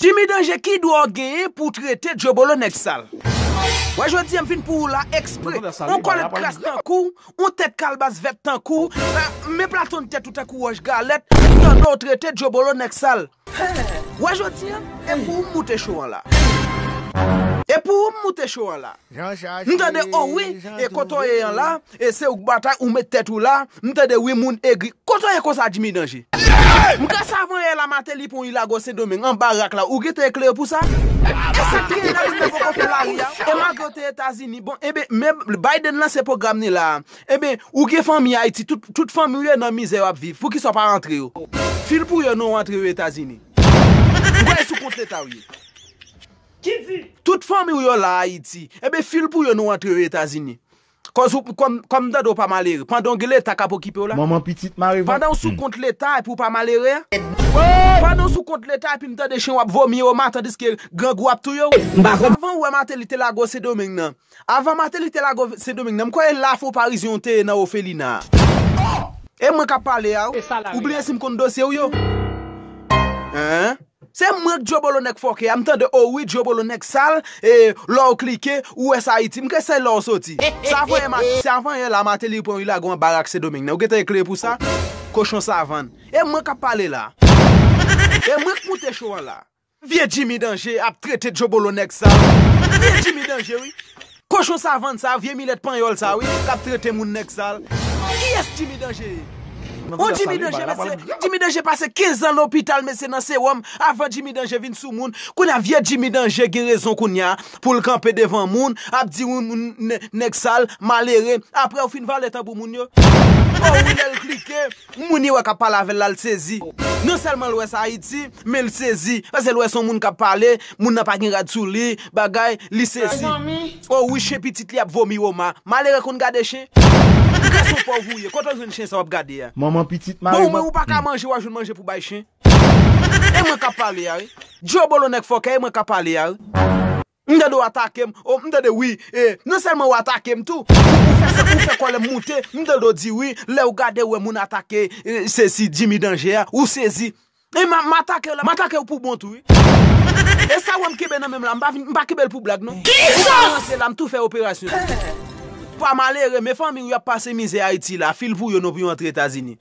Jimmy danje ki dwa w genyen pou w trete djobolo nèg sal. Wè jodi a m vin pou ou la ekspre. On kòlèt kras tankou w, on tèt kalbas vèt tankou w, men platon tèt ou tankou wòch galèt, m tande w trete djobolo nèg sal. Wè jodi a, e pou ou m moute cho an la. Jan chache, Mtande oh wi jan e kote w ye an la trouve. e se ou k batay ou met tèt ou la mtande wi moun egri kote w ye konsa Jimmy danje. Mka savan yè la mateli pon ilago sendomeng anba rak la ou gen te eklere pou sa? Esak genyen nan moun nan poko fè lari a e malgrew te etazini bon enben men Biden lanse pwogram ni la a enben ou gen fanmi ayiti tout tout fanmiw yo nan mizè yo ap viv poukisa ou pa rantre yo fil pou yo non ou antre yo etazini ou bay sou kont letaw ye. Ki di. Tout fanmi w yo la Ayiti. Enben file pou yo nou antre yo Etazini. Kòz ou, kòm m tande w pa malere. Pandan w gen Leta k ap okipe w la. Manman pitit mare vant. Pandan w sou kont Leta epi w pa malere a. Pandan w sou kont Leta epi m tande chen w ap vomi o ma tandiske grangou ap touye w. Avan ou wè Mateli te lage w Sendomeng nan. Avan Mateli te lago Sendomeng nan, m kwè e la fo Parizyen ou te ye nan ofelina a. E mwen k ap pale a ou? Ou bliye si m konn dosye ou yo? Eehh. Se mwen k Dyobolo nèg fòkè a, m tande o wi Dyobolo nèg sal, e lò ou klike, ou wè sa Ayiti. M kwè se la ou soti. Se avan yè Mat, se avan yè la Mateli pran wi lago an barak Sendomeng nan. Ou gentan eklere pou sa? Kochon savann. E mwen k ap pale la a. E mwen k moute cho an la a. Vye Jimmy danje ap trete djobolo nèg sa. Vye Jimmy danje wi. Kochon savann sa vye milèt panyòl sa wi kap trete moun nèg sal. Kiyès Jimmy danje ye? Bon Jimmy danje mesye Jimmy danje pase 15 an lopital mesye nan sewòm avan Jimmy danje vin sou moun kounya vye Jimmy danje gen rezon kounya poul kanpe devan moun ap di yon moun nèg sal malere aprèw fin vale tanbou moun yo oh wi lèl klike Moun yo wè kap pale avèl la l sezi. Non sèlman l wè sa Ayiti, men l sezi. Pase l wè son moun kap pale, moun nan pa gen rad sou li, bagay, li sezi. Oh wi chen pitit li ap vomi Roma. Malere konn gade chen? Ou gason pòv ou ye, kote w jwenn chen sa wap gade a? Manman pitit mari Bon ou menm ou paka manje wap jwenn manje pou bay chen? E mwen kap pale a wi. Dyobolo nèg fòkè e mwen kap pale a wi. M tande w atake m, o m tande wi e non sèlman w atake m tou, ou fè sa ou fè kòlè m moute, m tande w di wi lè w gade w wè moun atake sesi Jimmy Danger a ou sezi. E m m atake w la, m atake w pou bon tou wi. E sa w wè m kenbe nan men m la m pa vin m pa kenbe l pou blag non. Ou pa ranse la m tou fè operasyon. Pa malere men fanmi w y ap pase mizè Ayiti la, fil pou yo non pou yo antre Etazini.